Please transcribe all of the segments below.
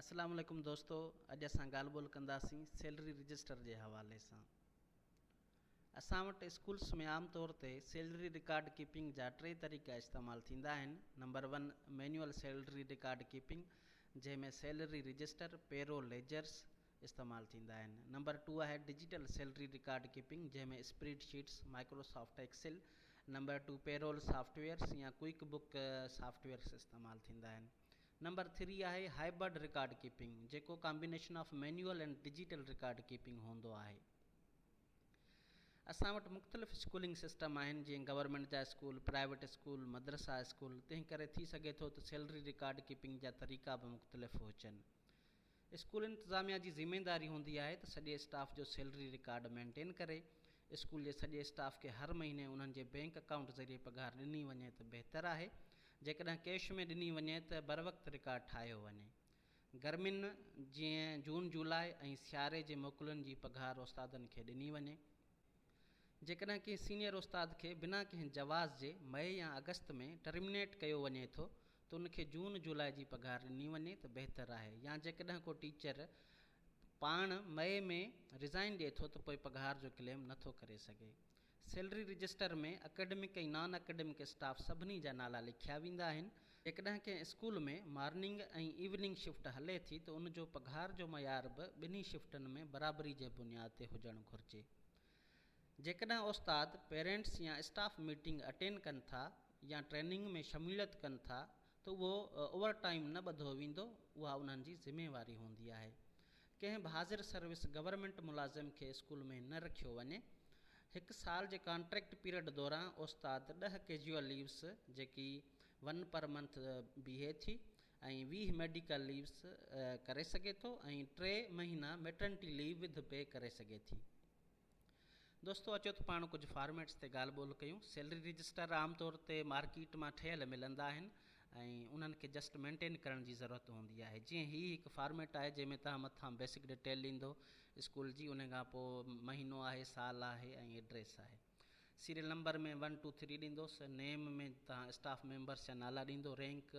اسلام عليڪم دوستو اڄ اسان ڳالھ ٻولھ ڪنداسين سيلري رجسٽر جي حوالي سان اسان وٽ اسڪولس ۾ عام طور تي سيلري رڪارڊ ڪيپنگ جا ٽي طريقا استعمال ٿيندا آهن number one manual salary record keeping جنهن ۾ سيلري رجسٽر پيرو ليجرس استعمال ٿيندا آهن نمبر ٽو آهي ڊجيٽل سيلري رڪارڊ ڪيپنگ جنهن ۾ spreadsheets Microsoft Excel number two payroll softwares يا ڪوئڪ بڪ سافٽ ويئرس استعمال ٿيندا آهن نمبر ٿري آهي هائبرڊ رڪارڊ ڪيپنگ جيڪو combination of manual and digital record keeping هوندو آهي. اسان وٽ مختلف اسڪولنگ سسٽم آهن جيئن گورنمينٽ جا اسڪول، پرائيويٽ اسڪول، مدرسا اسڪول تنهن ڪري ٿي سگهي ٿو ته سيلري رڪارڊ ڪيپنگ جا طريقا به مختلف هجن. اسڪول انتظاميا جي ذميداري هوندي آهي ته سڄي اسٽاف جو سيلري رڪارڊ مينٽين ڪري. اسڪول جي سڄي اسٽاف کي هر مهيني انهن جي بينڪ اڪائونٽ ذريعي پگهار ڏني وڃي ته بهتر آهي. جيڪڏهن ڪيش ۾ ڏني وڃي ته بروقت رڪارڊ ٺاهيو وڃي. گرمين جيئن جون جولاء ۽ سياري جي موڪلن جي پگهار استادن کي ڏني وڃي. جيڪڏهن ڪنهن سينئر استاد کي بنا ڪنهن جواز جي مئي يا آگسٽ ۾ ٽرمنيٽ ڪيو وڃي ٿو ته ان کي جون جولاء جي پگهار ڏني وڃي ته بهتر آهي يا جيڪڏهن ڪو ٽيچر پاڻ مئي ۾ رزائن ڏئي ٿو ته پوء پگهار جو ڪليم نه ٿو ڪري سگهي salary register ۾ academic ۽ non academic staff سڀني جا نالا لکيا ويندا آهن جيڪڏهن ڪنهن اسڪول ۾ مارننگ ۽ ايوننگ شفٽ هلي ٿي ته ان جو پگهار جو معيار به ٻنهي شفٽن ۾ برابري جي بنياد تي هجڻ گهرجي. جيڪڏهن استاد، پيرنٽس يا اسٽاف ميٽنگ اٽينڊ ڪن ٿا يا ٽريننگ ۾ شموليت ڪن ٿا ته اهو اوور ٽائيم نه ٻڌو ويندو، اها انهن جي ذميواري هوندي آهي. ڪنهن به حاضر سروس گورنمينٽ ملازم کي اسڪول ۾ نه رکيو وڃي. هڪ سال جي ڪانٽريڪٽ پيرڊ دوران استاد ڏهه ڪيجوئل ليوز جيڪي ون پر منٿ بيهي ٿي ۽ ويهه ميڊيڪل ليوز ڪري سگهي ٿو ۽ ٽي مهينا ميٽرنٽي ليو وڌ پي ڪري سگهي ٿي. دوستو اچو ته پاڻ ڪجهه فارميٽس تي ڳالهه ٻولهه ڪيون سيلري رجسٽر عام طور تي مارڪيٽ مان ٺهيل ملندا آهن ۽ انهن کي جسٽ مينٽين ڪرڻ جي ضرورت هوندي آهي جيئن هي هڪ فارميٽ آهي جنهن ۾ توهان مٿان بيسڪ ڊيٽيل ڏيندو اسڪول جي انهي کان پوء مهينو آهي سال آهي ۽ ايڊريس آهي serial number ۾ one two three ڏيندوس نيم ۾ توهان اسٽاف ميمبرس جا نالا ڏيندو رينڪ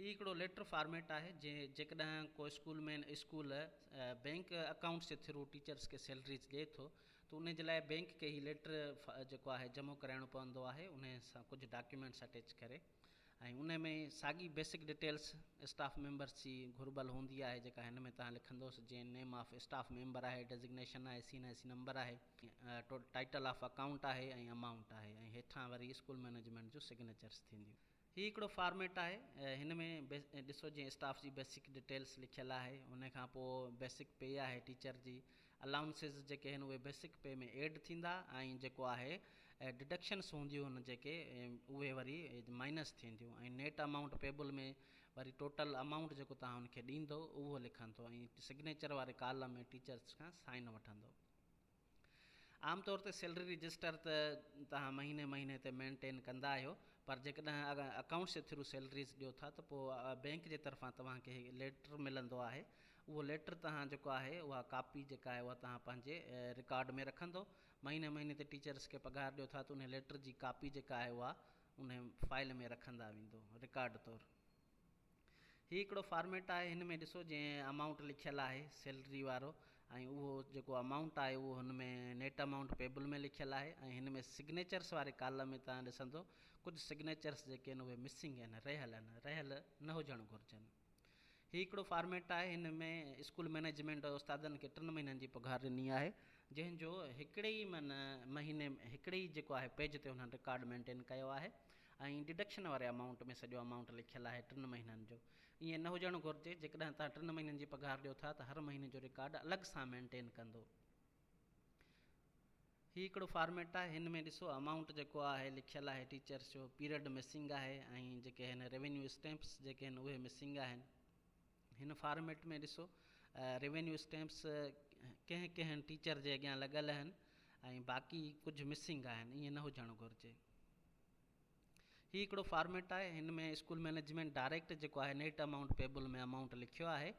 هي هڪڙو ليٽر فارميٽ آهي جيڪڏهن ڪو school main school bank accounts جي ٿرو ٽيچرس کي سيلريز ڏي ٿو ته ان جي لاء بينڪ کي هي ليٽر جيڪو آهي جمع ڪرائڻو پوندو آهي ان سان ڪجهه ڊاڪيومينٽس اٽيچ ڪري ۽ ان ۾ ساڳي بيسڪ ڊيٽيلس اسٽاف ميمبرس جي گهربل هوندي آهي جيڪا هن ۾ تان لکندوس جيئن نيم آف اسٽاف ميمبر آهي ڊيزگنيشن آهي C N I C number آهي ٽائيٽل آف اڪائونٽ آهي ۽ امائونٽ آهي ۽ هيٺان وري اسڪول مينيجمينٽ جون سگنيچرس ٿينديون هي هڪڙو فارميٽ آهي هن ۾ ڏسو جيئن اسٽاف جي بيسڪ ڊيٽيلس لکيل آهي ان کان پوء بيسڪ پي آهي ٽيچر جي الائونسز جيڪي آهن اهي بيسڪ پي ۾ ايڊ ٿيندا ۽ جيڪو آهي ڊڊڪشنس هونديون ان جيڪي اهي وري مائنس ٿينديون ۽ نيٽ امائونٽ پيبل ۾ وري ٽوٽل امائونٽ جيڪو توهان ان کي ڏيندو اهو لکندو ۽ سگنيچر واري ڪالم ۾ ٽيچرس کان سائن وٺندو عام طور تي سيلري رجسٽر ته توهان مهيني مهيني تي مينٽين ڪندا آهيو پر جيڪڏهن اڪائونٽس جي ٿرو سيلريز ڏيو ٿا ته پوء بئنڪ جي طرفان توهان کي هڪ ليٽر ملندو آهي اهو ليٽر توهان جيڪو آهي اها ڪاپي جيڪا آهي اها توهان پنهنجي رڪارڊ ۾ رکندو مهيني مهيني تي ٽيچرس کي پگهار ڏيو ٿا ته انهي ليٽر جي ڪاپي جيڪا آهي اها انهي فائل ۾ رکندا ويندو رڪارڊ طور. هي هڪڙو فارميٽ آهي هن ۾ ڏسو جنهن امائونٽ لکيل آهي سيلري وارو ۽ اهو جيڪو امائونٽ آهي اهو هن ۾ نيٽ امائونٽ پيبل ۾ لکيل آهي ۽ هن ۾ سگنيچرس واري ڪالم ۾ تان ڏسندو ڪجهه سگنيچرس جيڪي آهن اهي مسنگ آهن رهيل آهن رهيل نه هجڻ گهرجن هي هڪڙو فارميٽ آهي هن ۾ اسڪول مئنيجمينٽ استادن کي ٽن مهينن جي پگهار ڏني آهي جنهن جو هڪڙي ئي من مهيني هڪڙي ئي جيڪو آهي پيج تي انهن رڪارڊ مينٽين ڪيو آهي ۽ ڊڊڪشن واري امائونٽ ۾ سڄو امائونٽ لکيل آهي ٽن مهينن جو. ائين نه هجڻ گهرجي، جيڪڏهن توهان ٽن مهينن جي پگهار ڏيو ٿا ته هر مهيني جو رڪارڊ الڳ سان مينٽين ڪندو. هي هڪڙو فارميٽ آهي، هن ۾ ڏسو امائونٽ جيڪو آهي لکيل آهي ٽيچرس جو پيرڊ مسنگ آهي ۽ جيڪي هن ريونيو اسٽيمپس جيڪي هن اهي مسنگ آهن. هن فارميٽ ۾ ڏسو ريونيو اسٽيمپس ڪنهن ڪنهن ٽيچر جي اڳيان لڳل آهن ۽ باقي ڪجهه مسنگ آهن، ائين نه هجڻ گهرجي. هي هڪڙو فارميٽ آهي هن ۾ اسڪول مئنيجمينٽ ڊائريڪٽ جيڪو آهي نيٽ امائونٽ پيبل ۾ امائونٽ لکيو آهي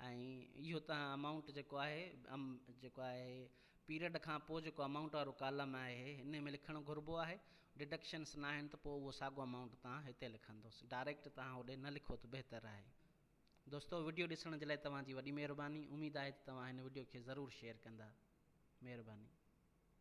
۽ اهو تنهن امائونٽ جيڪو آهي جيڪو آهي پيريڊ کان پوء جيڪو امائونٽ وارو ڪالم آهي هن ۾ لکڻ گهربو آهي ڊڊڪشنس نه آهن ته پوء اهو ساڳو امائونٽ تان هتي لکندوس ڊائريڪٽ تان هوڏي نه لکو ته بهتر آهي دوستو وڊيو ڏسڻ جي لاء توهان جي وڏي مهرباني اميد آهي ته توهان هن وڊيو کي ضرور شيئر ڪندا مهرباني